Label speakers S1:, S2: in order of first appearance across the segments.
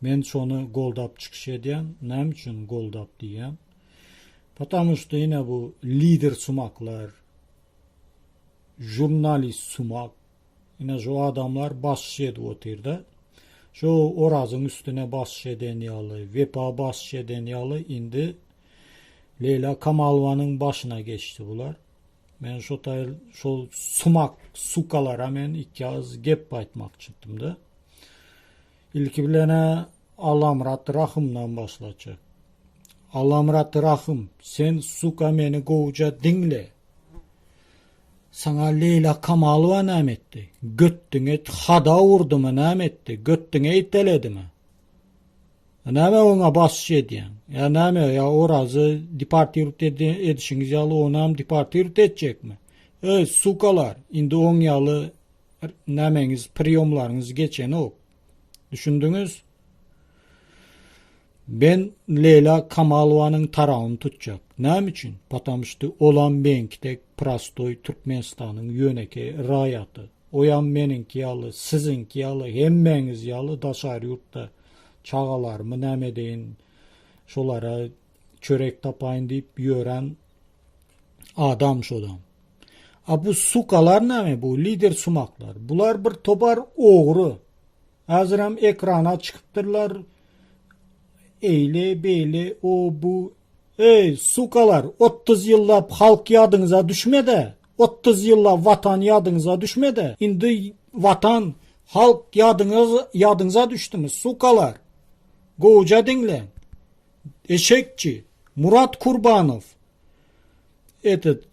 S1: Men şony goldap çykyş edýän, näme üçin goldap diýýän? Potamu şda ine bu lider sumaklar, žurnalist sumak, ine şu adamlar basyş edip otyrda, şu Orazyň üstüne basyş eden ýaly, Wepa basyş eden ýaly indi Leýla Kamalowanyň başyna geçdi bular. Men şo taýyr şol sumak sukalara men iki agyz gep aýtmakçydymda. Ilki bilen-ä Allamyrat Rahymdan başlajak. Allamyrat Rahym, sen suka meni gowja diňle. Saňa Leýla Kamalowa näme etdi? Götdüňe hada urdumy, näme etdi? Götdüňe iteledimi? Näme oňa basyş edýäň? Ýa näme, ýa Orazy deportiwt edişiňiz ýaly onam deportiwt etjekmi? Öý, sukalar, indi oň ýaly nämeňiz priýomlaryňyz geçenok düşündiňiz Ben Leýla Kamalowanyň tarawyny tutjak näme üçin potom şty olam meňki dek prostoý Türkmenistanyň ýönekeý raýaty oýam meniňki ýaly siziňki ýaly hemmäňiz ýaly daşary ýurtda çagalarymy näme edeýin şolara çörek tapaýyn diýip ýören adam şoda. A bu sukalar näme bu lider sumaklar? Bular bir tobar ogry. Häzir hem ekrana çykypdyrlar. Eýle beýle o bu Ey sukalar 30 ýyllap halk ýadyňyza düşmedi. 30 ýyllap watan ýadyňyza düşmedi. Indi watan halk ýadyňyz ýadyňyza düşdümi sukalar. Gowja diňle. Eşekçi, Murat Kurbanow, etet,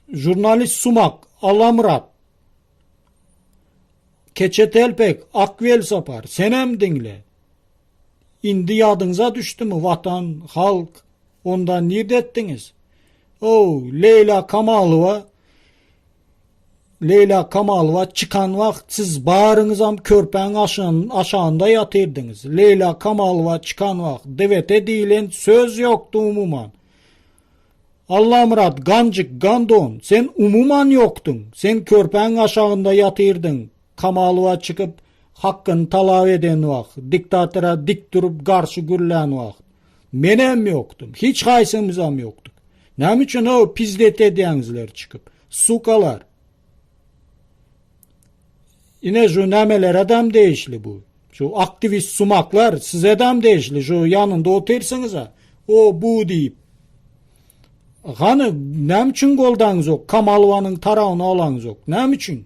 S1: žurnalist Sumak, Alamyrat, Keçetelpek, Akwelsapar, senem diňle. Indi ýadyňyza düşdümi Watan, halk, onda nirde etdiňiz? Ow, Leýla Kamalowa, Leýla Kamalowa çykan wagt siz baryňyzam körpäň aşagynda ýatyrdyňyz. Leýla Kamalowa çykan wagt DVT diýilen söz ýokdy umuman. Allamyrat Ganjyk Gandon sen umuman ýokduň. Sen körpäň aşagynda ýatyrdyň. Kamalowa çykyp hakkyny talap eden wagt, diktatora dik durup garşy gürlän wagt. Menem ýokdum. Hiç haýsymyzam ýokduk. Näme üçin ho pizdet edýäňizler çykyp? Sukalar. Ine şu nämelere dam degişli bu. Şu aktivist sumaklar size dam degişli. Şu ýanynda otyrsyňyz ha. O bu diýip. Hany näme üçin goldaňyz ýok? Kamalowanyň tarawyny alaňyz ýok. Näme üçin?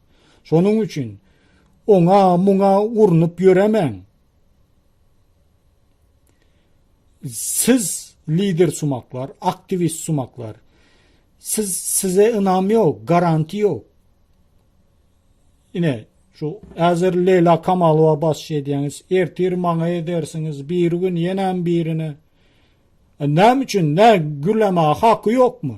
S1: Şonuň üçin oňa muňa urnup ýöremäň. Siz lider sumaklar, aktivist sumaklar. Siz size ynam ýok, garanti ýok. Ine, şu äzer Leýla Kamalowa baş edýäňiz, ertir maňa edersiňiz, bir gün ýenem birine. E, näme üçin nä gürleme haky ýokmy?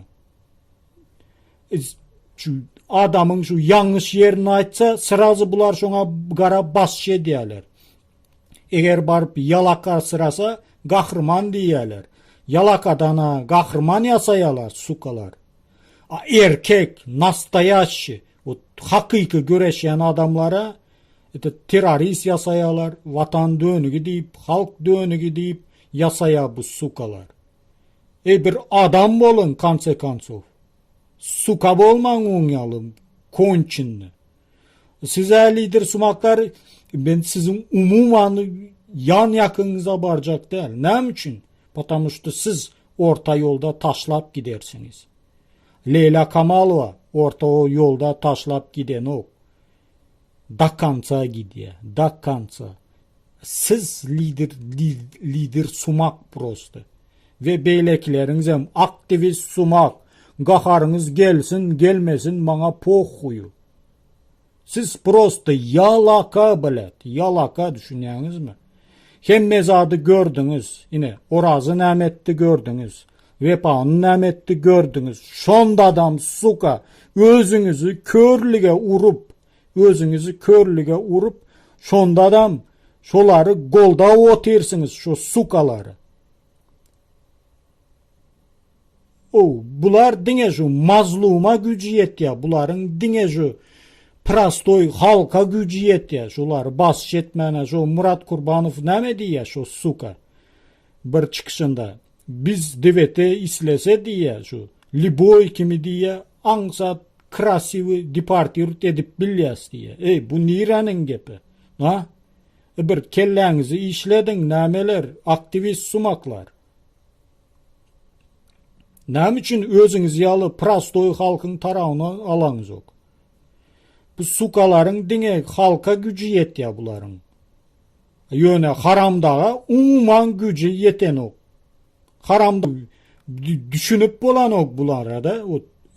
S1: Şu adamyň şu ýalňyş ýerini aýtsa, syrazy bular şoňa gara basçy edýärler. Eger baryp ýalaka syrasa, gahryman diýýärler. Ýalakadan-a gahryman ýasaýarlar, sukalar. A erkek, nastoýaşşi, ot hakyky göreşýän adamlara ete terrorist ýasaýarlar, watan dönügi diýip, halk dönügi diýip ýasaýar bu sukalar. Eý bir adam boluň konce koncow. Suka bolmaň oň ýaly konçenni. Siz ä lider sumaklar men siziň umuman ýan ýakyňyza barjak däl. Näme üçin? Potamu şda siz orta ýolda taşlap gidersiňiz. Leýla Kamalowa orta ýolda taşlap gidenok. Do konca gidýä do konca. Siz lider lider sumak prosta. We beýlekileriňizem aktiwist sumak. Gaharyňyz gelsin gelmesin maňa pohuýu. Siz prosta ýalaka blat ýalaka düşünýäňizmi. Hemme zady gördüňiz ine Orazy näme etdi gördüňiz. Wepany näme etdi gördüňiz şondadam suka özüňizi körlige urup özüňizi körlige urup şondadam şolary goldap otyrsyňyz şu sukalary. O bular diňe şu mazluma güji ýetýä bularyň diňe şu prostoy halka güji ýetýä şolary basyş etmäne şu Murat Kurbanow näme diýýä şu suka bir çykyşynda. Biz DVT islese diýýä şu liboý kimi diýýä aňsat krasiwy departirt edip bilýäs diýýä. Eý bu niräniň gepi? A? E bir kelläňizi işlediň nämeler aktiwist sumaklar. Näme üçin özüňiz ýaly prostoý halkyň tarawyny alaňzok? Bu sukalaryň diňe halka güji ýetýä bularyň. Ýöne haramdaga umuman güji ýetenok. Haramdag düşünip bolanok bularada.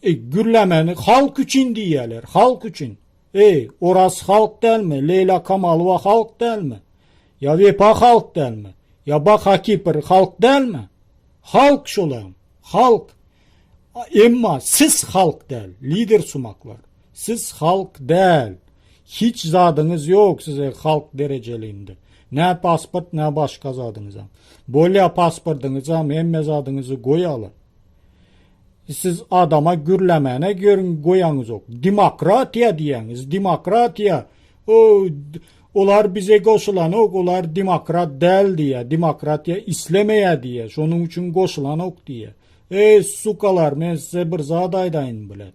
S1: E, gürlemeni halk üçin diýýärler, halk üçin. Eý, Oraz halk dälmi? Leýla Kamalowa halk dälmi? Ýa Wepa halk dälmi? Ýa Bak Hakipir halk dälmi? Halk şolam, halk. Emma siz halk däl, lider sumaklar. Siz halk däl. Hiç zadyňyz ýok size halk derejelinde. Nä pasport nä başga zadyňyzam. Bolýa pasportyňyzam hemme zadyňyzy goýaly. Siz adama gürlemäne görüň goýaňyzok. Demokratiýa diýýäňiz demokratiýa o olar bize goşulanok olar demokrat däl diýýä demokratiýa islemeýä diýýä şonuň üçin goşulanok diýýä. Eý sukalar men size bir zat aýdaýyn blet.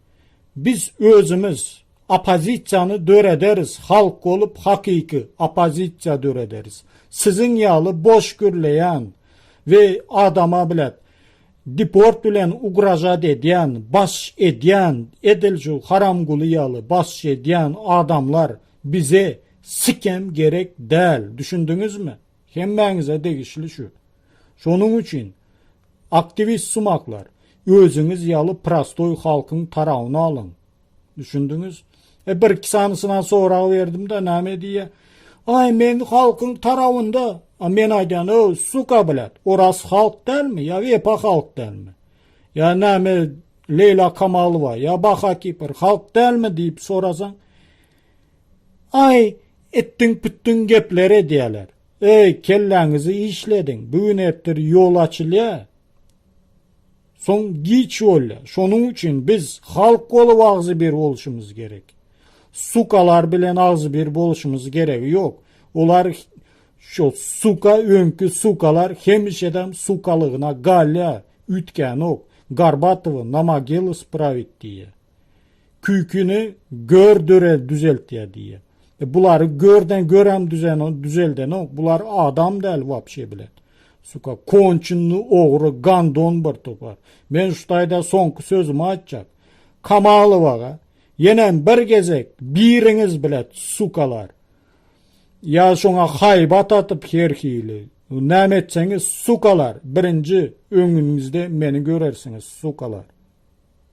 S1: Biz özümiz oppozisiýany dörederis, halk bolup hakyky oppozisiýa dörederis. Siziň ýaly boş gürleýän we adama blet deport bilen ugražat edýän, baş edýän, edil şu Haramguly ýaly baş edýän adamlar bize sikem gerek däl, düşündiňizmi? Hemmäňize degişli şu. Şonuň üçin, aktiwist sumaklar, özüňiz ýaly prostoý halkyň tarawyny alyň. Düşündiňiz? E, bir-iki sanysyna sorag berdim-de, näme diýýär? Aý, men halkyň tarawynda. A men aýdýan, öw, suka, blat, oras halk dälmi ýa wepa halk dälmi? Ýa näme Leýla Kamalowa ýa Baha Kipr halk dälmi diýip sorasaň, Aý, itdiň-pütdüň gepler edýäler. Eý, kelläňizi işlediň, bu gün-ertir ýol açylýar. Soň giç bolýar. Şonuň üçin biz halk bolup agzybir bolşumyz gerek. Sukalar bilen agzybir bolşumyz geregi ýok. Olar şo suka öňki sukalar hemişedem sukalygyna galýar, üýtgänok. Garbatowy na mogilus prawit diýýär. Küýkini gör dörez düzeltýär diýýär. E bulary görden görem düzeno düzeldenok. Bular adam däl wapşe bilen. Suka konçinli ogry gandon bir topar. Men şu taýda soňky sözümi aýtjak. Kamalowaga yenem bir gezek biriňiz bilet sukalar. Ya şoňa haýbat atyp her hili. Näme etseňiz sukalar birinji öňüňizde meni görersiňiz sukalar.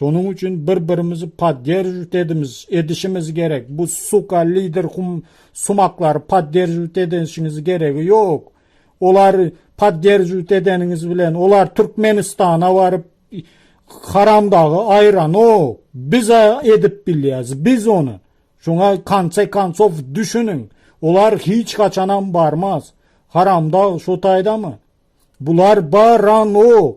S1: Şonuň üçin bir birimizi podderživt edimiz, edişimiz gerek. Bu suka lider hum sumaklary podderživt edenşiňiz geregi ýok. Olar podderživt edeniňiz bilen olar Türkmenistana baryp haramdagy aýranok. Biz edip bilýäs, biz ony. Şoňa konce konsow düşüniň. Olar hiç haçanam barmaz. Haramdag şo taýdamy? Bular baranok.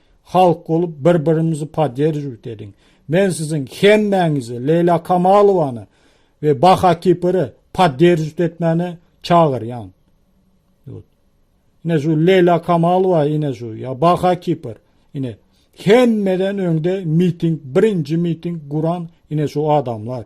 S1: Halk bolup bir birimizi poderdžiwt ediň. Men siziň hemmäňizi Leýla Kamalowany we Baha Kipiri poderdžiwt etmäne çagyrýan. Ýut. Ine şu Leýla Kamalowa ine şu ýa Baha Kipir ine hemmeden öňde miting birinji miting guran ine şu adamlar.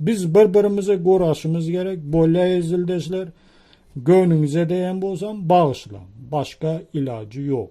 S1: Biz bir birimize goraşymyz gerek bolya ezildeşler göwnüňize deýen bolsam bagyşlaň başga ilajy ýok.